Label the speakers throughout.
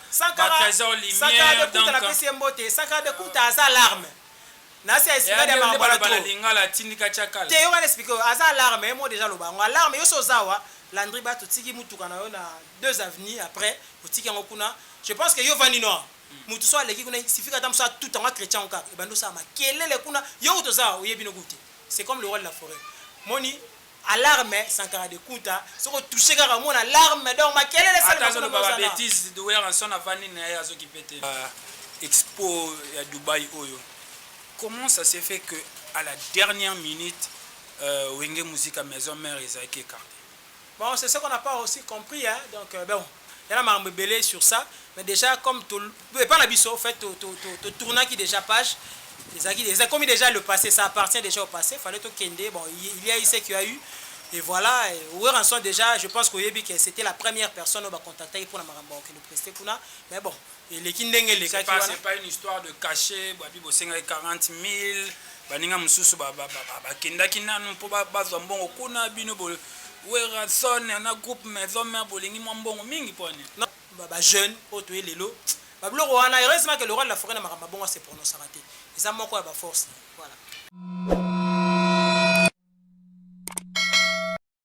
Speaker 1: Sankara, Balthazar Lumière, Sankara de Kunta donc, napesi ye mbote, Sankara
Speaker 2: de Kunta aza alarme nase ya esclave ya Mama Bwala trop
Speaker 1: te, yoka na explique oyo aza
Speaker 2: alarme ye moko dejà aloba yango alarme, yo se oza awa Landry Batu otiki mutuka na yo na deux avenues après otiki yango kuna je pense que yo ovandi no awa mutu soki aleki kuna il suffit que ata mosusu atuta yango a creche yango kaka ebandi osala makelele kuna yo kutu oza awa oyebi no kutu te c'est comme le roi de la foret omoni. Alarme sankara de kunta soki o touche kaka omona alarme donc makelele esalema kuna mais oza na. Ata azo loba ba betises
Speaker 1: werrason avandi na ye azo kipe te. Ba expo ya Dubaï oyo comment ça se fait que à la dernière minute Wenge Musica maison mère ezalaki ecarte? Bon c'est ce qu'on
Speaker 2: a pas aussi compris hein donc bon. ya na makambo ebele sur ça mais dejà comme to epa na biso au fait to to to tournaki dejà page ezalaki eza komi dejà le passé ça appartient dejà au passé fallait to kende bon il y a eu ce qui a eu et voilà Werrason dejà je pense que oyebi que c'était la première personne oyo ba contactaki pona makambo ya kokende prester kuna mais bon Eleki ndenge elekaki wana. C'est pas une histoire
Speaker 1: de cache, babi bosengaki 40.000, baninga mususu ba ba ba bakendaki nanu mpo bazwa mbongo kuna bino bo Werrason na groupe maison mère bolingi mwa mbongo mingi mpo nini? Non, ba ba
Speaker 2: jeunes oyo toye lelo ba biloko wana heureusement que le roi de la foret na makambo mabongo a se prononcaka te eza moko ya ba force na ye voilà.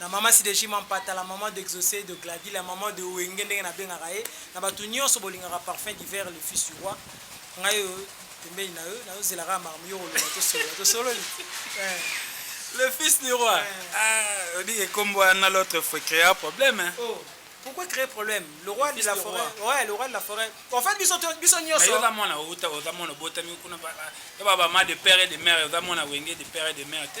Speaker 2: na maman Sideji Mampata, la maman d'Exaucé, de Gladys, la maman de Wenge ndenge nabengaka ye, na bato nyonso bolingaka Parfum d'hiver le fils du roi, ngai oyo pembeni na yo nazozela kaka makambo yo koloba
Speaker 1: tosolola tosololi eh. Le fils du roi. Ouais. Ah, on dit que comme on a l'autre, il faut créer un problème. Hein. Oh. Pourquoi créer
Speaker 2: problème Le roi le de la forêt. Roi. Ouais, le roi de la forêt. En fait, biso biso nyoso. Mais oza mwana
Speaker 1: outa, oza mwana botami kuna ba ba ba ma de père et de mère, oza mwana wenge de père et de mère te.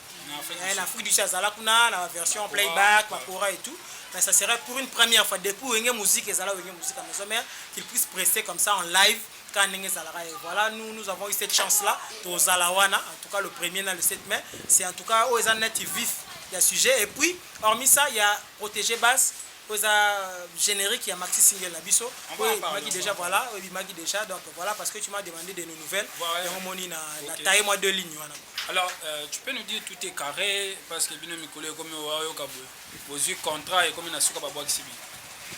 Speaker 2: Eh, na Afrique du Sud azala kuna na version playback bakora et tout mais ça serait pour une première fois depuis wenge musique ezala wenge musique à maison mère qu'il puisse presser comme ça en live quand ndenge ezalaka et voilà nous nous avons eu cette chance là tozala wana en tout cas le premier na le 7 mai c'est en tout cas oyo eza net vif ya sujet et puis hormis ça ya protéger base Oyo eza generique ya maxi single na biso oyo ebimaki deja voilà oyo ebimaki deja donc voilà parce que tu m'as demandé de nos nouvelles yango moni na na taille moi deux lignes wana alors euh, tu
Speaker 1: peux nous dire tout est carré parce que bino mikolo ekomi oyoka boye bozwi contrat ekomi na suka babwakisi bino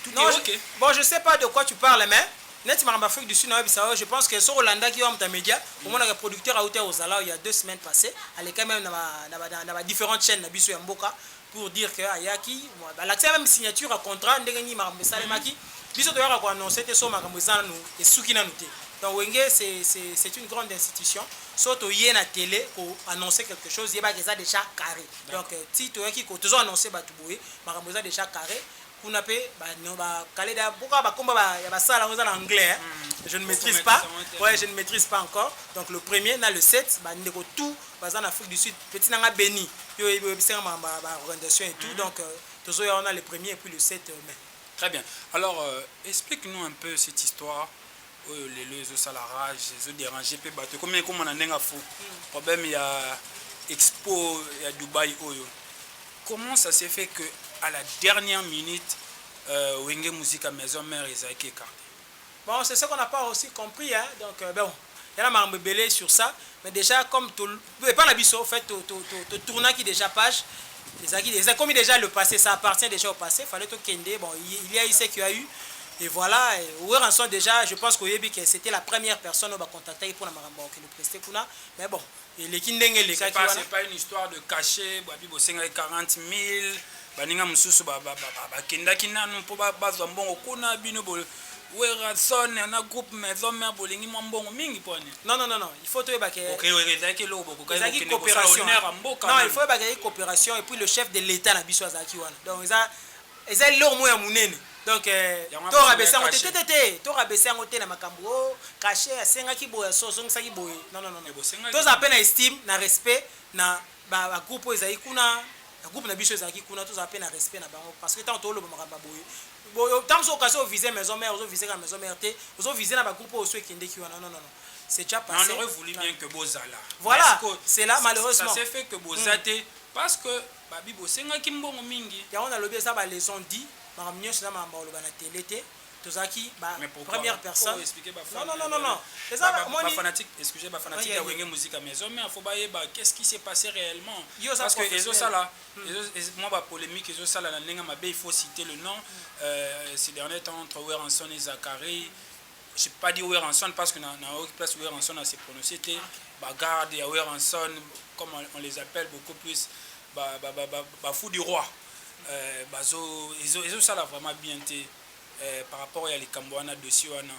Speaker 1: tout non, est ok bon je sais pas de quoi
Speaker 2: tu parles mais neti makambo afrique du sud nayebisa yo je pense que soki olandaki yo amuta média mm. omonaka producteur auta ozala il y a deux semaines passé aleka même na ba différentes chaînes na biso ya mboka pour dire que ayaki balakisa meme signature ya contrat ndenge nini makambo esalemaki mhm. biso toyaka ko annonce te so makambo eza nanu esuki nanu te donc wenge c'est une grande institution so toye na télé ko annonce quelque chose yebaka eza déjà carré donc euh, ti toyaki ko tozo annonce bato boye makambo eza déjà carré kuna pe ba no ba kale da boka ba komba ba ya ba sala ngo eza na anglais hein mm. je ne maîtrise pas ouais je ne maîtrise pas encore donc le premier na le 7 ba ndeko tout baza na Afrique du Sud petit nanga béni yo yebi yebi senga ma ba organisation et tout mm. donc euh, tozo ya on a le premier et puis le 7 euh, mai très bien
Speaker 1: alors euh, explique nous un peu cette histoire oyo lelo ezosala rage ezo déranger mpe bato ekomi ekomona ndenge afu problème ya expo ya dubai oyo comment ça se fait que à la dernière minute euh, wenge musique à maison mère ezalaki écarté bon c'est ce qu'on
Speaker 2: n'a pas aussi compris hein? donc euh, bon il y a makambo ebele sur ça mais déjà comme Epa na biso fait to to to, to tournaki dejà page ezalaki eza komi dejà le passé ça appartient déjà au passé fallait to kende bon il y a eu ce qui a eu et voilà Werrason déjà je pense koyebi que c'était la première personne ba contactaki pour na makambo que le prester kuna mais bon eleki ndenge elekaki wana c'est pas une histoire de
Speaker 1: cachet babi bosengaki 40 000 baninga mosusu bakendaki nanu mpo bazwa mbongo kuna bino Werrason na groupe maison mère bolingi mwa mbongo mingi pona. Non non non non il faut
Speaker 2: toyeba ke ezalaki
Speaker 1: eloko bokokaki kokende kosala honneur
Speaker 2: ya mboka nanu. Non il faut oyeba ke ezalaki cooperation et puis le chef de l'etat na biso azalaki wana donc eza eza eloko moko ya munene donc to rabaisser yango te te te te to rabaisser yango te na makambu oh cachet asengaki boye azongisaki boye non non non non tozala pe na estime na respect na ba ba groupe oyo ezalaki kuna na groupe na biso ezalaki kuna tozala mpe na respect na bango parce que ntango toloba makambo ya boye boyo ntango so okasi ovise maison mère ozovise kaka maison mère te ozovise na bagroupe oyo so ekendeki wana non non non c'est déjà Non, on passé aurait voulu bien que bozala.
Speaker 1: Voilà, Mais sikoyo, c'est
Speaker 2: là, ça- malheureusement. Ça s'est fait que boza
Speaker 1: te parce que babi bosengaki mbongo mingi. yango nalobi eza ba leçon
Speaker 2: dit makambo nyonso eza makambo ya koloba na tele te tozalaki ba mais pourquoi première personne oh, expliquer ba non non non non non eza ba,
Speaker 1: ba, ba fanatique excusez ba fanatique ya wenge musique mais zo mais faut ba yeba qu'est-ce qui s'est passé réellement parce que ezo sala hmm. moi ba polémique ezo sala na ndenge mabe il faut citer le nom hmm. euh, ces derniers temps entre Werrason et Zachary je pas dit Werrason parce que na na aucune place Werrason a se prononcer te ah, ba garde ya Werrason comme on, on les appelle beaucoup plus ba ba ba ba, ba fou du roi euh, bazo ezo ezo sala vraiment bien te euh, par rapport ya likambo wana dossier wana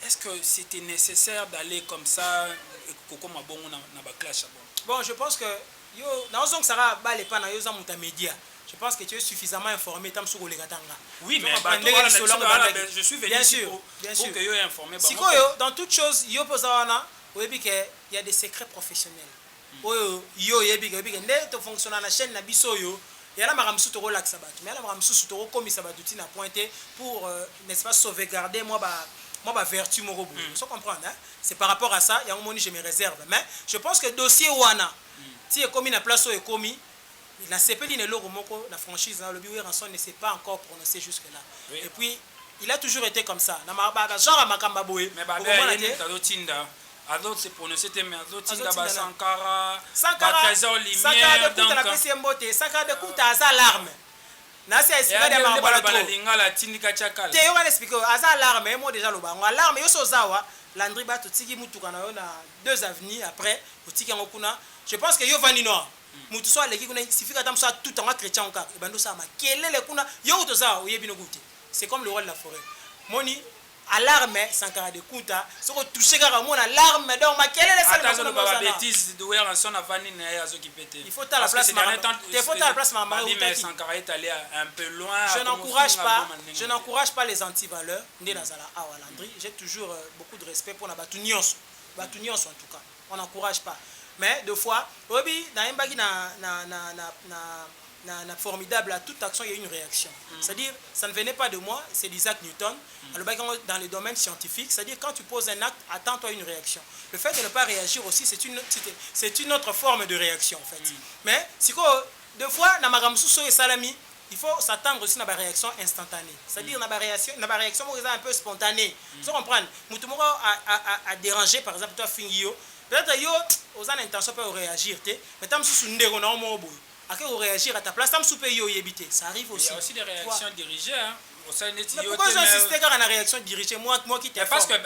Speaker 1: est-ce que c'était nécessaire d'aller comme ça kokoma bongo na, na ba clash bon bon je pense que
Speaker 2: yo naozongisa kaka bale epa na yo oza moto ya media je pense que tu es suffisamment informé ta mosusu koleka tanga oui mais bato ndenge
Speaker 1: wana lisolo yango wana ebandaki ben, je suis venu bien ici sûr pour bien pour sûr que
Speaker 2: yo informer
Speaker 1: bango sikoyo dans toute
Speaker 2: chose yo mpe oza wana oyebi ke ya des secrets professionnels oyo yo oyebi oyebi ke nde to fonctiona na chaine na biso oyo ya na makambo mosusu tokolakisa bato mais ya na makambo mosusu tokokomisa bato ti na point te pour euh, n'est ce pas sauvegarder mwa ba mwa ba vertu moko boye mm. so comprendre hein? c'est par rapport à ça yango moni je me réserve mais je pense que dossier wana mm. ti ekomi na place oyo ekomi nasepeli na eloko moko na franchise nalobi weranson ne s'est pas encore prononcé jusque là oui. et puis il a toujours été comme ça na genre ya makambo ya boye okomona
Speaker 1: te azo se prononcer te mais azo tinda ba sankara ba trésor lumière donc na pesi mbote
Speaker 2: sankara de kuta aza alarme na se esika ya ba bala bala lingala tindika
Speaker 1: chakala te yo wana expliquer aza
Speaker 2: alarme emo déjà loba ngo alarme yo so zawa landri ba to tiki mutuka na yo na deux avenues après otiki yango kuna je pense que yo vandi noa mutu so aleki kuna sifika ata musa tout yango chrétien ngo kaka ebando sa makelele kuna yo uto zawa oyebi no gute c'est comme le roi de la forêt moni Alarme sankara de kunta soki o touche kaka omona alarme donc makelele esalema kuna ata azo loba ba betises
Speaker 1: de werrason avandi naye azo kipe te il faut tala place makambo
Speaker 2: te il faut tala place makambo mabe mais sankara
Speaker 1: est allez un peu loin je n'encourage pas
Speaker 2: je n'encourage pas les anti valeurs nde nazala awa landry j'ai toujours beaucoup de respect pona batu nionso batu nionso en tout cas on n'encourage pas mais de fois oyebi na yembaki na na na na na na na formidable à toute action il y a une réaction mm. c'est à dire ça ne venait pas de moi c'est d'Isaac Newton mm. alobaki yango dans le domaine scientifique c'est à dire quand tu poses un acte attends toi une réaction le fait de ne pas réagir aussi c'est une c'est une autre forme de réaction en fait mm. mais sikoyo de fois na makambo mosusu oyo esalami Il faut s'attendre aussi na ba reaction instantanee c'est à dire na ba reaction na ba reaction moko eza un peu spontanee ozo comprendre mutu moko a deranger par exemple to afingi yo peut etre yo oza na intention pe ya ko reagir te mais tango mususu ndeko na yo moko boye ake ko reagir à ta place tango mususu pe yo oyebi te ça arrive aussi mais
Speaker 1: pourquoi ozo
Speaker 2: insister kaka na reaction dirigee moi
Speaker 1: qui t'informe.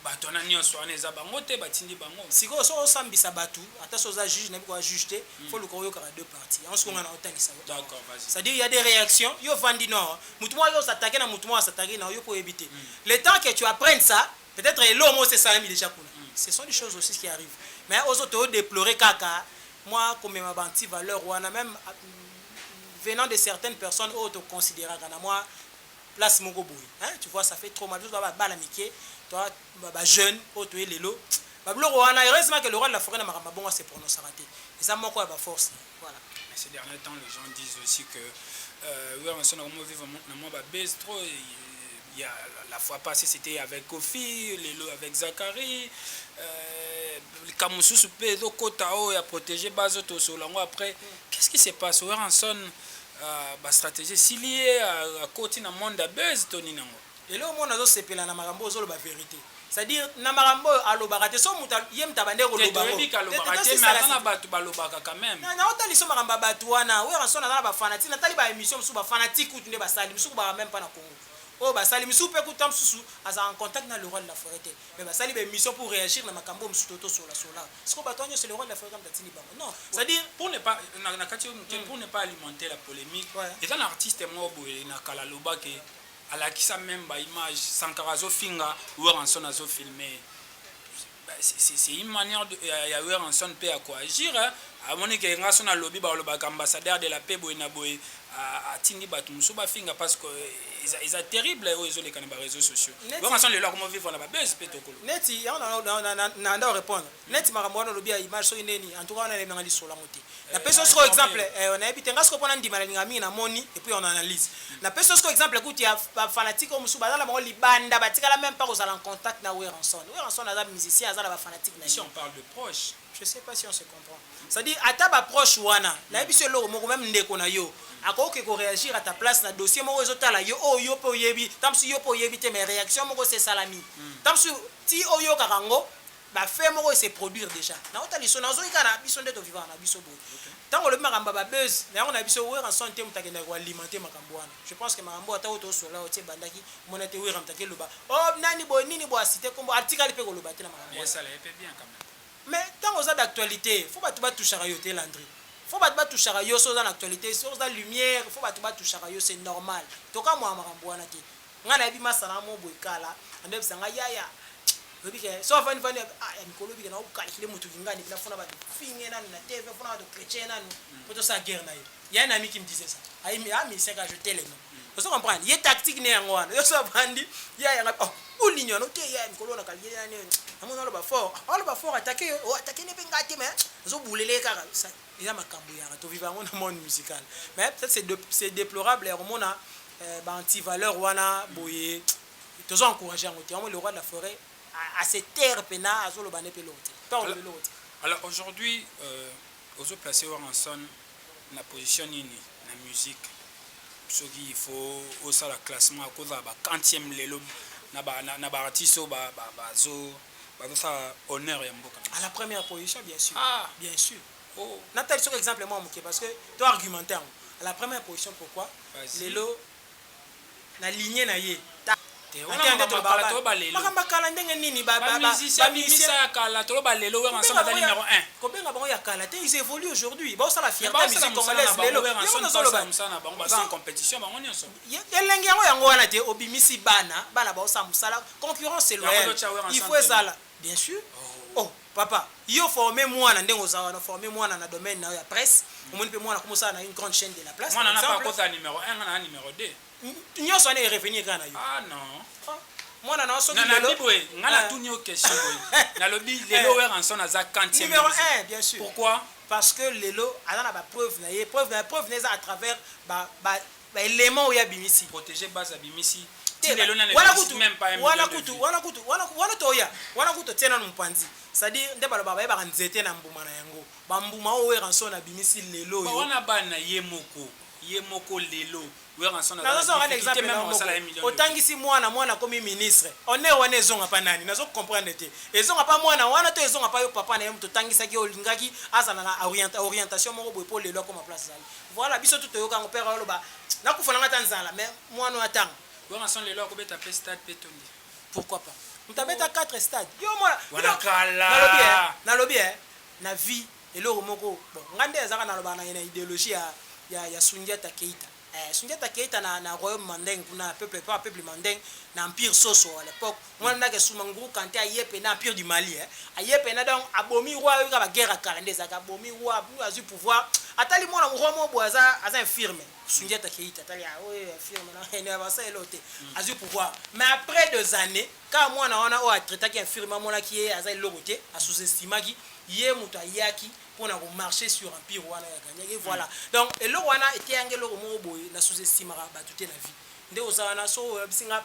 Speaker 1: Batu wana nionso wana eza bango te batindi bango. Sikoyo soki osambisa
Speaker 2: batu ata soki oza juge nayebi koya juge te faut oluka oyokaka deux parties yango sikoyo nga naotangisa yo awa c'est à dire il ya
Speaker 1: des reactions
Speaker 2: yo ovandi no awa mutu moko azo s'attaquer na mutu moko a s'attaquer na yo mpe oyebi te le temps que tu apprennes ça peut etre eloko moko esi esalami dejà kuna ce sont des choses aussi qui arrive mais ozo to deplorer kaka mwa komema ba anti valeur wana meme venant de certaines personnes oyo to consideraka na mwa place moko boye hein tu vois ça fait trop mal biso toza ba bana mike toza ba jeunes oyo toye lelo ba biloko wana heureusement que le roi de la foret na makambo ma bongo a se prononcaka te eza moko ya ba force na ye voilà. Mais ces derniers temps
Speaker 1: les gens disent aussi que euh, Werrason akomi vivre na mwa ba buzz trop il y a la fois passée c'était avec Kofi lelo avec Zachary euh, likambo mosusu mpe ezokota oyo ya protéger bazo tosola yango après qu'est-ce qui se passe Werrason Ah ba strategie esili ye akoti na monde ya buzz to nini yango? Eloko moko nazo
Speaker 2: sepela na makambo oyo ozoloba verite c'est à dire na makambo oyo alobaka te soki mutu ye mutu abandaki koloba yango te alobaka te mais
Speaker 1: aza na batu balobaka quand même na nao tali so makambo ya
Speaker 2: batu wana werrason aza na ba fanatique na tali ba emission mususu ba fanatique kutu nde basali misusu kutu bazalaka meme pas na Congo oyo basali misusu pe kutu tango mususu azalaka en contact na le roi de la foret te Mais basali ba emission pour reagir na makambo oyo mosusu to sola sola. Sikoyo bato wana nionso le roi de la forêt kamta atindi bango. Non, c'est à dire Pour ne pas na
Speaker 1: na kati yo moke pour ne pas alimenter la polemique Ouais. eza na artiste moko boye na kala aloba ke alakisa meme ba image sankara azofinga weranson azofilme ye Bah, c'est- c'est c'est une manière de- ya ya weranson mpe ya koagir hein. amoni ke nga so nalobi balobaka ambassadeur de la paix boye na boye atindi bato mosusu bafinga parce que eza, eza terrible oyo ezoleka na bareseau sociaux bonga sans lelo akoma vivre na babese mpe tokolo neti yango
Speaker 2: na nda orépondre mm. neti makambo wana olobi ya image soki ndeni en tout cas wana nanga lisolo yango te eh, napesi yo sikoyo exemple eh, nayebi te nga sikoyo mpo nandima nalinga mingi namoni epuis on analyse mm. napesi yo sikoyo exemple kutu ya bafanatique oyo mosusu baza na bango libanda batikala même pas kozala en contact na weranson weranson aza musicien aza na bafanatique na je
Speaker 1: sais pas si on se
Speaker 2: comprend Ça dire ata ba proche wana nayebisi yo eloko moko meme ndeko na yo akoki ke ko reagir à ta place na dossier moko ezo tala yo oyo yo pe oyebi tango mosusu yo pe oyebi te mais reaction moko esi esalami tango mosusu ti oyokaka yango ba faits moko e se produire dejà na kota liso na zoki kaka na biso nde to vivaka na biso boye tango olobi makambo ya ba buzz na yango na biso Werrason te moto akendaka ko alimenter makambo wana je pense que makambo oyo ata oyo to solola oyo ti ebandaki omona te Werra moto ake loba oh nani boye nini boye a citer kombo atikali pe ko loba te na makambo wana
Speaker 1: Mais tango oza
Speaker 2: d'actualite faut batu ba touchaka yo te Landry faut batu ba touchaka yo soki oza na actualite soki oza lumière faut batu ba touchaka yo c'est normal tokamwaka makambo wana te ngai nayebi masana ya moko boye kala ando yebisa ngai yaya oyebi ke so avandi vandi ah ya mikolo oyebi ke nao calculer mutu kinga depuis nafona batu finge nanu na TV fona batu chretien nanu po tosala guerre na ye ya na miki me disait ça ayi ah musicien ka je t'aime ozo comprendre ye tactique ne yango wana yo so bandi ya yanga oh bolingi wana te ya mikolo na kalye ya ne amona aloba fort ah, aloba fort attaquer yo oh attaquer ne pe ngate mais zo boulele kaka ça il a makambo yanga to vivre yango na monde musical mais peut-être c'est de, c'est déplorable ya komona euh, ba anti valeur wana boye tozo encourager yango te yango le roi de la forêt à se taire pena azoloba ne pe lote pe olobi lote alors
Speaker 1: aujourd'hui euh, ozo placer Warren Son na position nini na musique soki il faut osala classement ya kozala ba quantième lelo na ba na ba artistes oyo ba ba bazo bazo sala honneur ya mboka à la première position
Speaker 2: bien sûr ah bien sûr
Speaker 1: oh
Speaker 2: na tali soki
Speaker 1: exemple moi
Speaker 2: moke parce que to argumenter à la première position pourquoi lelo na ligne na ye ta te wana makambo ya kala toloba lelo makambo ya kala ndenge nini ba ba musicien abimisa ya
Speaker 1: kala toloba lelo werra son aza numero un kobenga bango ya kala
Speaker 2: te ils evolue aujourd'hui ba osala fier ta musique congolaise lelo werra son aza lobela musala
Speaker 1: na bango baza en competition bango nionso elengi yango yango
Speaker 2: wana te obimisi bana bana ba osala musala concurrence loyale il faut ezala bien sûr oh Papa yo forme muana ndenge oza wana forme muana na domaine nayo ya presse omoni pe muana akomi osala na une grande chaine de la place par exemple muana nape akota numero
Speaker 1: un nga naza numero deux nionso wana e
Speaker 2: revenir kaka nayo ah non
Speaker 1: muana nayo soki
Speaker 2: lelo nanabi boye nga
Speaker 1: natuni yo question boye nalobi lelo werrason aza quantième numero un bien sur
Speaker 2: pourquoi parce que
Speaker 1: lelo
Speaker 2: aza na ba preuve naye preuve naye preuve naye eza à travers ba ba
Speaker 1: Ba
Speaker 2: element oyo
Speaker 1: abimisi.
Speaker 2: Protege base
Speaker 1: abimisi
Speaker 2: ti lelo nanu ebimisi meme pas un million de vues. Wana kutu wana kutu wana toya wana kutu totie nanu mupanzi c'est à dire nde balobaka bayebaka nzete na mbuma na yango ba mbuma oyo werrason abimisi lelo oyo ba wana bana ye
Speaker 1: moko ye moko lelo werrason aza na difficulte meme
Speaker 2: akosala un million de vues otangisi mwana mwana akomi ministre honneur wana ezonga pa nani nazo comprendre te ezonga pa mwana wana to ezonga pa yo papa naye mutu otangisaki olingaki azala na orientation moko boye po lelo akoma place azali Voilà biso tout toyoka yango père aloba nakufa na nga ata nzala mais muana oyo atanga. Werrason lelo akobeta
Speaker 1: pe stade pe etondi pourquoi pas.
Speaker 2: Mutu abeta 4 stade yo omona Wana kala.
Speaker 1: nalobi eh nalobi eh
Speaker 2: na vie eloko moko bon nga nde azalaka nalobaka na ye na ideologie ya ya ya sundiata keita eh sundiata keita na na royaume mandeng kuna peuple epa peuple mandeng na empire soso à l'epoque Muana ndaka esuma nguru kante aye pena empire du Mali eh aye pena donc abomi roi oyoka ba guerre ya kala nde ezalaka abomi roi puis azui pouvoir atali muana roi moko boye aza aza infirme Sundiata Keita atali ah oyo infirme na eno ya basa elo te azui pouvoir mais après des années kaka muana wana oyo a traitaki infirme amonaki ye aza eloko te a sous estimaki ye moto ayaki pona ko marcher sur empire wana ya gagnaki et voilà donc eloko wana eteyanga eloko moko boye na sous estimaka bato te na vie nde oza wana so oyebisi nga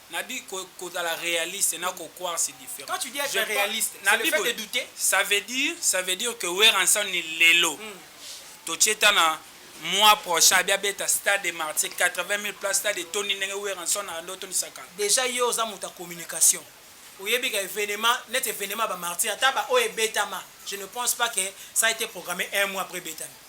Speaker 1: Na dit ko kozala realiste na ko croire c'est different. Quand tu dis etre realiste,
Speaker 2: c'est le fait de douter? Ça veut dire,
Speaker 1: ça veut dire que Werrason lelo totie ata na mois prochain abi abeta stade de martyrs 80000 places, stade etondi ndenge Werrason abandi ko tondisa kala. Dejà yo oza moto ya
Speaker 2: communication, oyebi ka evenement neti evenement ya ba martyrs ata ba oyo ebetama je ne pense pas que ça a ete programme un mois après ebetami.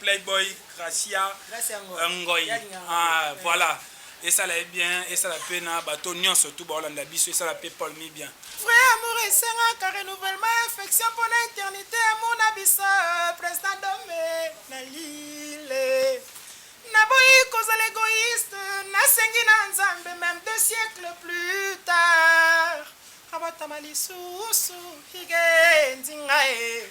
Speaker 1: Playboy Gracia Ngoy ah voilà esala ye bien esala pe na bato nyonso tu baolanda biso esala pe Paul mi bien Vrai amour
Speaker 2: esengaka renouvellement ya affection mpo na eternite amour na biso President Dome na Lille Naboyi kozala egoïste nasengi na Nzambe meme deux siècles plus tard abatama lisusu hige nzinga e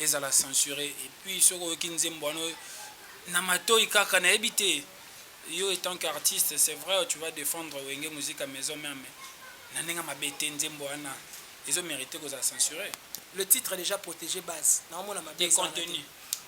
Speaker 1: ezala censure et puis soki oyoki nzembo wana na matoyi kaka nayebi te yo etant qu'artiste c'est vrai tu vas défendre wenge musique à maison mère mais na ndenge mabe te nzembo wana ezo mérite kozala censure le titre déjà
Speaker 2: protégé base naomona mabe contenu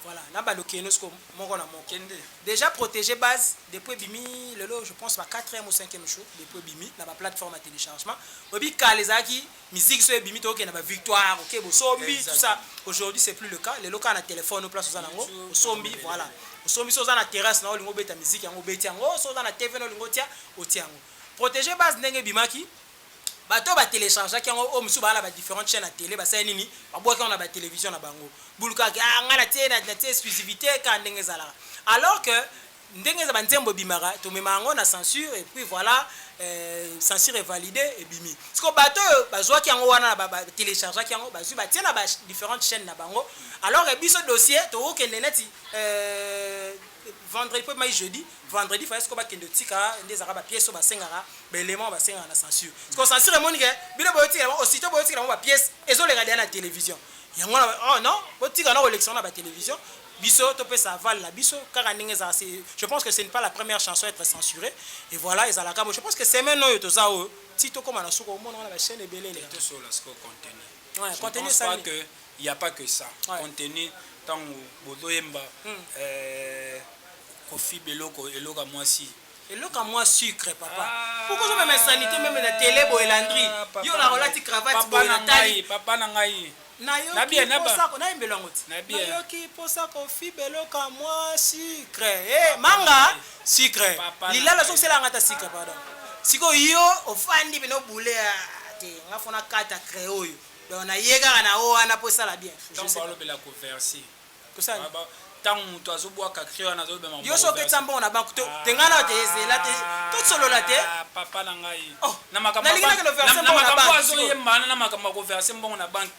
Speaker 1: voilà na baluki
Speaker 2: eno siko moko na moko kende déjà
Speaker 1: protégé
Speaker 2: base depuis ebimi lelo je pense ba 4e ou 5e jour depuis ebimi na ba plateforme ya téléchargement oyebi kala ezalaki Musique soki ebimi tokokende na ba victoire oke bosombi tout ça aujourd'hui c'est plus le cas lelo kaka na telephone place oza nango osombi voilà osombi soki oza na terrasse na olingi obeta musique yango obeti yango soki oza na tv na olingi otia otia yango protege base ndenge ebimaki bato oyo batelechargeaki yango oyo mosusu baa na badifférente chaîne ya tele basali nini babwaki yango na batelevision na bango bulukaki ah ngai natie natie exclusivité kaka ndenge ezalaka alors que Ndenge eza ba nzembo ebimaka tomemaka yango na censure et puis voila euh, censure est valide ebimi. Siko bato oyo bazwaki yango wana na ba, ba telechargeaki yango bazwi batie na ba differentes chaînes na bango alors que biso dossier tokokende neti euh, vendredi mpo mai jeudi vendredi faya siko bakende otika nde ezalaka bapiece oyo basengaka baélément oyo basengaka na censure siko censure emoni ke bino boyotikela bango aussitôt boyotikela bango bapiece ezoleka deya na télévision yango wana oh non botika na kolekisa yango na batelevizio Biso to pesa aval na biso kaka ndenge ezala se je pense que ce n'est pas la première chanson à etre censure et voilà ezalaka bo je pense que semaine oyo toza oyo ti to koma na suka omona wana ba chaine ebele eleka. To solo siko contenu.
Speaker 1: Ouais, je contenu pense pas
Speaker 2: que il y a
Speaker 1: pas que ça. Ouais. Contenu
Speaker 2: tango
Speaker 1: bozo yemba hmm. euh, kofi beloko eloka mwasi Eloko ya mua
Speaker 2: sucre papa. Pourquoi ozo mema insanite meme na tele boye Landry? Yo na olati cravate boye na tali. Papa na ngai.
Speaker 1: Nayoki
Speaker 2: posa ko nayembela
Speaker 1: yango ti.
Speaker 2: Nayoki posa
Speaker 1: ko
Speaker 2: fiba eloko ya mua sucre. Eh manga sucre. Lilala ozo sela nga ta sucre pardon. Siko yo ofandi bino boule te nga fona kata crayon oyo. Donc na ye kaka na o wana po esala bien. Donc ba lobela ko
Speaker 1: verser. Tosala
Speaker 2: nini? Tango mutu azo
Speaker 1: bwaka cri wana azo loba makambo Yo soki ozo pekisa mbongo na
Speaker 2: banque to tengana yo te zela te to solola te Aah papa na ngai
Speaker 1: oh na makambo ya banque na
Speaker 2: makambo na makambo oyo azo
Speaker 1: yemba wana na makambo ya ko verser mbongo na banque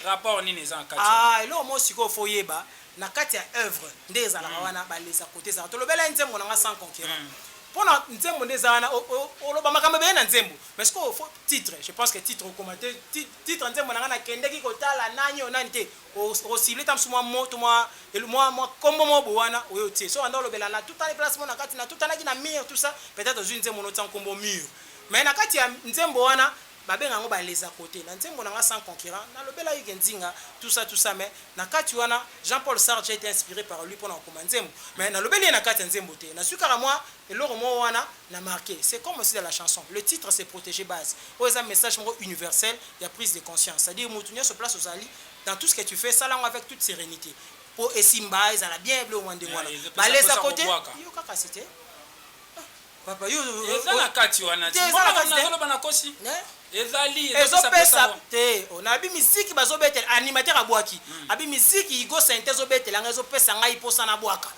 Speaker 1: rapport nini eza na kati yango? Aah eloko moko sikoyo
Speaker 2: faut oyeba na kati ya oeuvre nde ezalaka wana ba les à cote ezalaka tolobela ye nzembo na ngai sans concurrent pona nzembo nde eza wana oloba makambo ebele na nzembo mais sikoyo faut titre je pense que titre okoma te titre ya nzembo na ngai na kendeki kotala nani oyo nani te Oko cibler ata mosusu mwa mot to mwa mwa mwa kombo moko boye wana oye otie. Soki obanda kolobela natutani place moko na kati, natutanaki na mur tout ça, peut etre ozui nzembo wana otia nkombo mur. Mais na kati ya nzembo wana ba benga yango ba les à cotes. Na nzembo na nga sans concurrent na lobelaki ke Nzinga tout ça tout ça mais na kati wana Jean Paul Sartre j'ai ete inspire par lui pona kokoma nzembo mais na lobeli ye na kati ya nzembo te. Nazui kaka mwa Eloko moko wana na marquer. C'est comme aussi dans la chanson, le titre c'est proteger base. Oyo eza message moko universel ya prise de conscience. C'est à dire mutu nionso place ozali, dans tout ce que tu fais, sala yango avec toute serenite. Po esimba, ezala bien, biloko mwa ndenge wana. Bale eza cote, yo kaka c'est te? Ah, papa yo. Eza na kati wana.
Speaker 1: Te, eza na kati te. Nazoloba na kosi. Ne? Ezali ezo pesa pesa ngo.
Speaker 2: Te oh na bi miziki bazo betela animateur abwaki abi miziki igo sente ezo betela nga ezo pesa ngai posa na bwaka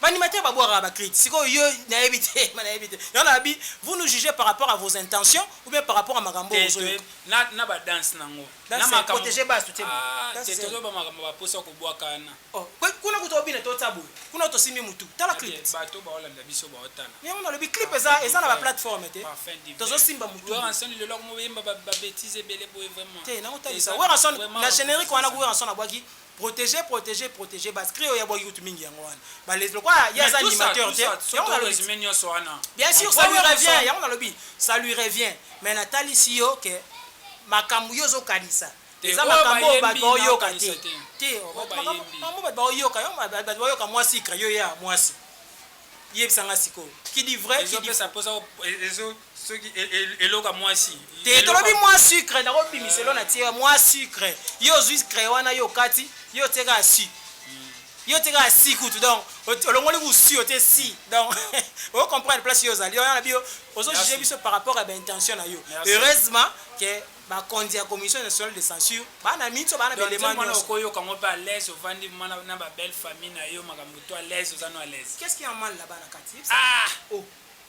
Speaker 2: ba animateur ba bwakaka ba crit sikoyo yo na yebi te ma na yebi te yango na bi vous nous jugez par rapport à vos intentions ou bien par rapport à makambo Te ozo toyebi yoka na na ba
Speaker 1: danse na ngo. Na dance makambo. protege
Speaker 2: bas tu te Ah, dance te zero tozo ba
Speaker 1: makambo ba posa ko bwakana. Oh pe kuna kutu obina
Speaker 2: to tia boye kuna to simbi mutu tala clip te bato bao landa biso
Speaker 1: bao tala yango na lobi clip eza
Speaker 2: eza na ba plateforme te tozo simba mutu werrason lelo akomo yemba
Speaker 1: ba ba betise ebele boye vraiment te na kota lisa werrason
Speaker 2: na generique wana ku werrason abwaki proteger proteger proteger bas cri oya bwaki kutu mingi yango wana ba les lokwa ya za animateur te yango na lobi mais nyoso wana bien sûr ça lui revient yango na lobi ça lui revient mais na tali si yo que makambu yo zo kanisa Te oyo bayembi nao kanisa te oyo bayembi. Makambo oyo batu bako yoka yo batu bako yoka mua sucre yo ya muasi yebisa nga sikoyo qui dit vrai qui dit faux
Speaker 1: soki eloko ya mwasi te tolobi mwa
Speaker 2: sucre nako bimisa elo na tie mwa sucre yo ozwi sucre wana yo okati yo otie kaka su hmm. yo otie kaka si kutu donc olongoli kusi otie si donc o comprendre place yo ozali wana na biyo ozo juge biso par rapport ya baintention na yo heureusement ke Bakonzi ya Commission nationale de censure ba na mitso, ba na ba elements nionso. Donc nzembo wana oko yoka ngo pe à
Speaker 1: l'aise, ovandi mwana na ba belle famille na yo makambo tout à l'aise, oza no à l'aise. Qu'est-ce qui a mal là-bas na
Speaker 2: kati? Yebisa nga. Ah! Oh!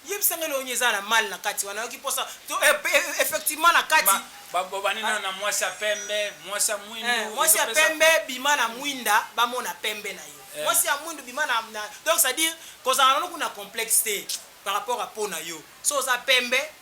Speaker 2: Yebisa nga eloko nini eza na mal na kati wana? Nayoki posa to effectivement na kati. Ba ba bobandi nanu na
Speaker 1: mwasi ya pembe, mwasi ya mwindu. Eh, mwasi ya pembe
Speaker 2: bima na mwinda ba mona pembe na yo. Eh. Mwasi ya mwindu bima na, na donc c'est à dire kozala nanu kuna complexe te par rapport à peau na yo. So oza pembe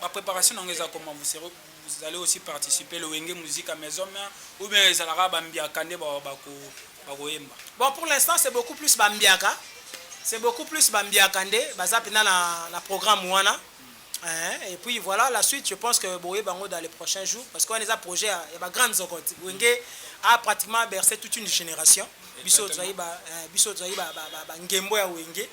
Speaker 1: ba preparation nango eza koma vous serez vous allez aussi participer le wenge musique à maison mère ou bien ezalaka ba mbiaka nde ba bako bakoyemba bon pour l'instant
Speaker 2: c'est beaucoup plus ba mbiaka c'est beaucoup plus ba mbiaka nde baza pena na na programme wana mm. eh, et puis voilà la suite je pense que boye bango dans les prochains jours parce qu'on les a projet ya ba grande zokot wenge a pratiquement bercé toute une génération biso tozali ba eh, biso tozali ba, ba, ba, ba ngembo ya wenge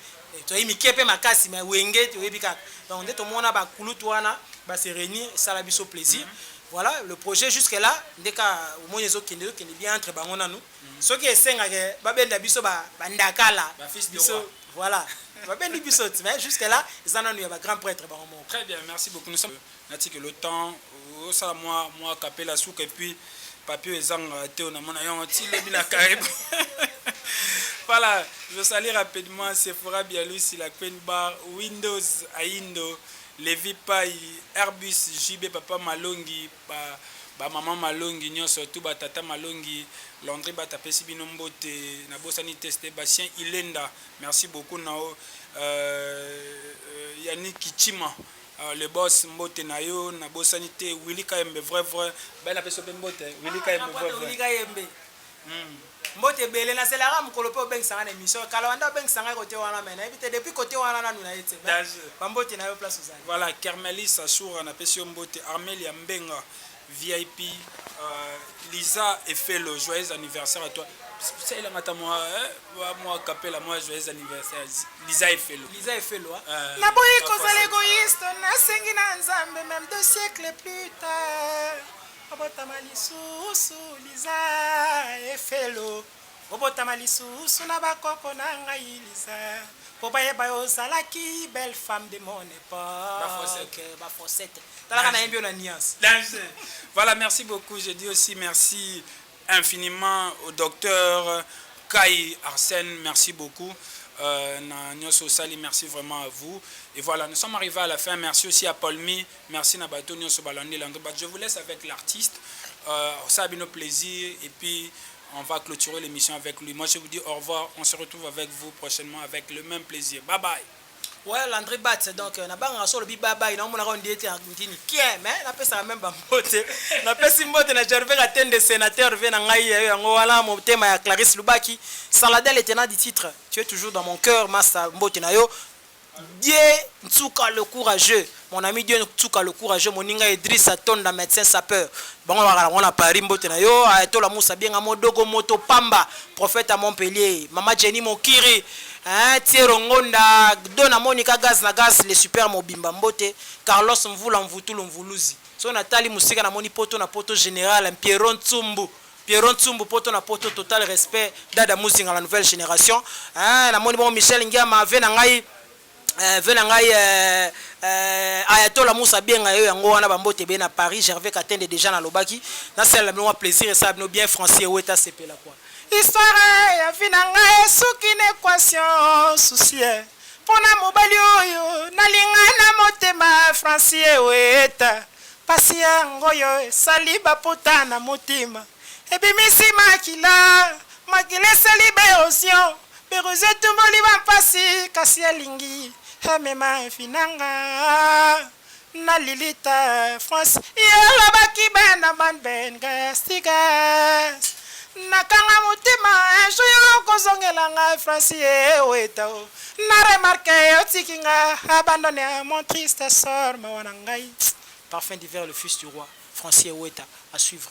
Speaker 2: Toyebi mike pe makasi mais wenge toyebi kaka donc nde tomona ba kulutu wana ba se reunir esala biso plaisir voilà le projet jusque là nde ka omoni ezokende ezokende bien entre bango nanu soki esengaka babenda biso ba bandakala Ba fils de biso roi. voilà babendi biso ti mais jusque là eza nanu ya ba grand prêtre bango moko Très bien, merci
Speaker 1: beaucoup. Nous sommes Natiki le temps osala mwa mwa kapela suka et puis papier ezanga te on amona yo ti lobi na karibu. voilà, je salue rapidement Sephora Bialusi, la Queen Bar, Windows Aindo, Levi Pai, Airbus, JB Papa Malongi, ba ba maman malongi nyonso tout ba tata malongi Landry bata pesi bino mbote na bosani teste Bastien Ilenda merci beaucoup nao euh, euh, Yannick Kichima Ahh le boss mbote na yo na bosani te Willy kayembe vrai vrai baye na peso pe mbote Willy kayembe vrai vrai Willy kayembe hmm. Mbote ebele na zela nga mukolo pe obengisa nga na emission kala wanda obengisa nga kote wana mais na yebi te depuis kote wana nanu na ye tse ba mbote na yo place ozali voilà kermelis asura na pesi yo mbote armelia mbenga VIP euh, Lisa et Felo, joyeux anniversaire à toi. Ça il a mata moi hein, moi capella moi joyeux anniversaire Lisa et Felo. Lisa et Felo. Hein? Euh,
Speaker 2: na boye kozala égoïste, na sengi na Nzambe même deux siècles plus tard. Abotama lisusu Lisa et Felo. Obotama lisusu na ba koko na ngai Lisa po bayeba yo ozalaki belle femme de mon epoque ba faussette talaka nayembi yo na nuance. Danze
Speaker 1: Voilà merci beaucoup je dis aussi merci infiniment au docteur Kayi Arsène merci beaucoup euh, na nionso osali merci vraiment à vous et voilà nous sommes arrivés à la fin merci aussi à Paulmi merci na bato nionso balandi langue but je vous laisse avec l'artiste euh, ça bino plaisir et puis on va clôturer l'émission avec lui. Moi, je vous dis au revoir. On se retrouve avec vous prochainement avec le même plaisir. Bye bye. Ouais, Landry
Speaker 2: Bats, donc, euh, na banga solo bi bye bye, na omona ka ndiete en ndini kie, mais na pesa même ba mbote. Na pesi mbote na Gervais Katende sénateur ve na ngai yayo yango wana mo tema ya Clarisse Lubaki. Saladel était na du titre. Tu es toujours dans mon cœur, massa mbote na yo. Dieu Nsuka le courageux, mon ami Dieu Nsuka le courageux, moninga Idrissa Tonda medecin sapeur, bango balaka na ngo na Paris, mbote na yo Ayatollah Moussa Bienga Modogo moto pamba, prophète ya Montpellier, mama Jenny Mokiri eeh Thiero Ngonda, Dona Monica Gaz na Gaz le super mobimba mbote, Carlos Mvula Mvutulu Mvuluzi, soki na tali mosika na moni poto na poto general Mpierrot Nsumbu, Pierrot Nsumbu poto na poto total respect Dada Muzinga la nouvelle generation eeh na moni bongo Michel Ngiama vie na ngai eh, vie na ngai eh, eh, Ayatola Musa abenga yo yango wana bambote ebele na Paris Gervais Katende deja nalobaki nasalela bino mwa plaisir esala bino bien Francier Weta asepela kwa Histoire ya vie na ngai esuki na equation souci eh, mpo na mobali oyo nalinga na motema Francier Weta Pasi ya ngoyo esali ba pota na motima ebimisi makila makila esali ba erosion biruzi etumboli ba mpasi kasi alingi amema vie na nga na lilita France ye alobaki bana man ben gas tigas na kanga motima un jour oko zongela nga France ye weta oh. Na remarque otiki nga abandonne ah mon triste sort mawa na ngai Parfum d'hiver le fils du roi Francier Weta à suivre.